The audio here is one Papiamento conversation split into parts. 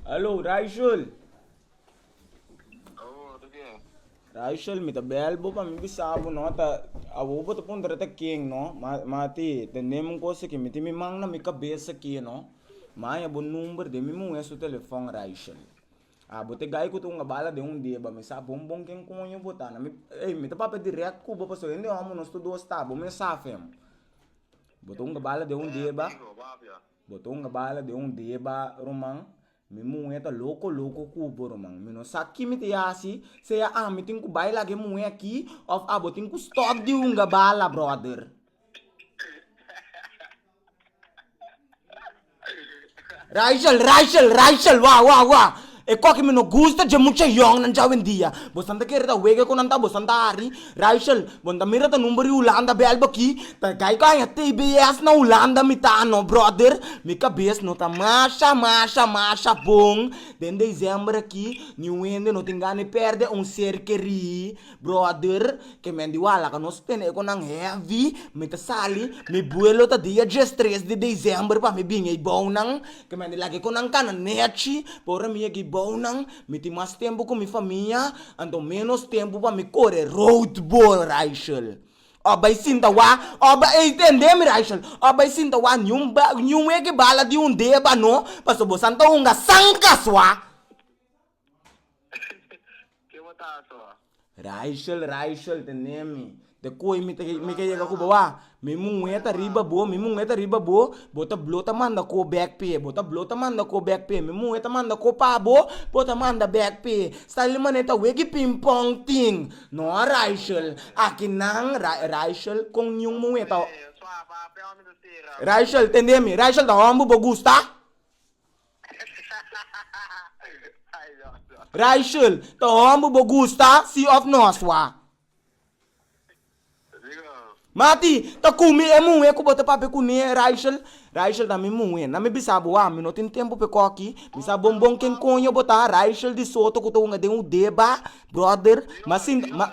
Hallo Raichel. Oh, de qué? Raichel, mi ta bel bo pa mi bisa bo no ta abo bo ta puntra ta ken no, ma ma ti tendem un cosa que mi tin mi man na mi cabeza aquí no. Mi haya bo number den mi muhe su telefon Raichel. A bo te gai cu ta hunga bala den un deba mi sa bon bon ken coño bo ta na mi ey mi ta papia direct cu bo pasobra hende homo nos todo a sta bo mes sa fem Bo ta hunga bala den un deba, bo ta hunga bala den un deba ruman, mi muhé ta loko loko ku bo ruman, mi no sa ki mi ta yasi, sea ami tin ku bai laga e muhé aki òf abo tin ku stòp di hunga bala bròder. Rachel, Rachel, Rachel, wak, wak, wak. E kos ki mi no gusta dje mucha yòngnan dje awendia. Bosan ta kere ta wega ku nan ta, bosan ta hari. Rachel, Bo no ta mira ta number di Hulanda bèlbo aki? Ta kai ku a haña tbs na Hulanda mi ta anó, bròder. Mi kabes no ta masha, masha, masha bon. Den desèmber aki, ni wende no tin gana di pèrdè un ser kerí. Brother, ke men di wala ka nos tene e konan heavy, mi ta sali, mi buelo ta dia djes tres di december pa mi bin ei bounan, ke men di laga e konan kana nechi, pa ora mi yega ei bounan, mi tin mas tempu ku mi famia, anto menos tempu pa mi kore rood ball Raichel. Ò bai sinta wak, ò bai ei tende mi Raichel, ò bai sinta wak niun ba niun weki bala di un deba no, pasobra bo san ta hunga san kaswa. Ke bo ta haci awor? Rachel, Rachel, tende mi, te koe mi te mi ke yega ku bo a, mi muhe ta riba bo, mi muhe ta riba bo, bo ta blo ta manda ko bek p'e, bo ta blo ta manda ko bek p'e, mi muhe ta manda ko pa bo, bo ta manda bek p'e, Stanley mane ta wegi ping pong tin, no Rachel, aki nan, Ra Rachel kon niun muhe ta, Rachel, tende mi, Rachel ta homber bo gusta? Raichel, ta homber bo gusta, si of no a swa? Mati, ta kumi e muhe ku bo ta papia kune, Raichel? Raichel, na mi muhe, na mi bisa bo a mi no tin tempu pa e koki, mi sa bon bon ken koño bo ta, Raichel di Soto ku ta hunga den Udeba, brother, ma sinta, ma.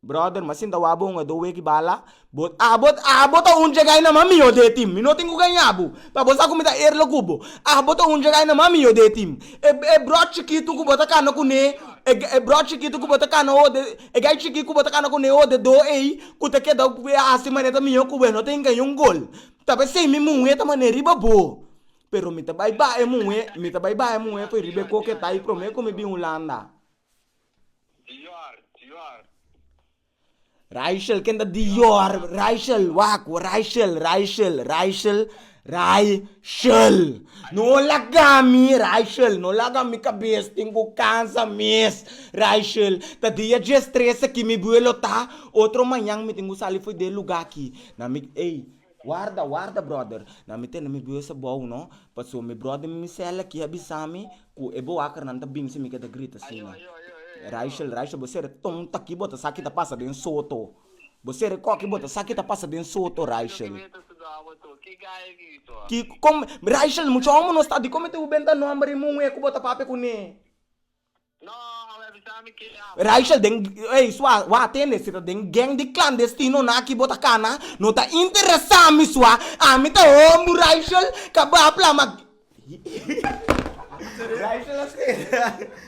Brother ma sinta wak bo un a do weki bala bo abo abo ta un djegay na ma mi yo de tim mi no tin ku gaña bo pa bo sa ku mi ta erle ku bo abo ta un djegay na ma mi yo de tim e e brot chikitu ku bo ta kana kune e brot chikitu ku bo ta kana ho de e gay chikit ku bo ta kana kune ho de do ey ku ta keda ku a hasi manera mi yo ku bo e no ta hinga yon gol ta be esei mi muhe ta mane riba bo pero mi ta bay baha e muhe mi ta bay baha e muhe por riba e koke ta y prome ku mi bin hulanda. Dior, Dior. Raichel, ken ta Dior? Raichel, waku, Raichel, Raichel, Raichel, Raichel. No laga mi, Raichel, no laga mi kabes tin ku kansa mes. Raichel, ta dia dies tres aki mi buelo ta, otro mañan mi tin ku sali for den lugá aki. Na mi, ey, Warda, warda brother, na mi tene mi bues abou no, paso mi brother mi cel aki a bisami cu e boakernan ta binsi mi ke ta grita asina. Raichel, Raichel bo sere ton taki bo ta sa ki ta pasa den soto, bo sere ko aki bo ta sa ki ta pasa den soto Raichel. Ki, kom, Raichel mucho omo no sta di komete u benta nomber i muhe ku bo ta papia kune. Rachel, den, ey, sua, wou a tende si ta den geng di klandestinonan aki bo ta kana, no ta interesa mi sua, ami ta hombu, Rachel, ka bo a plama, Rachel a skeda.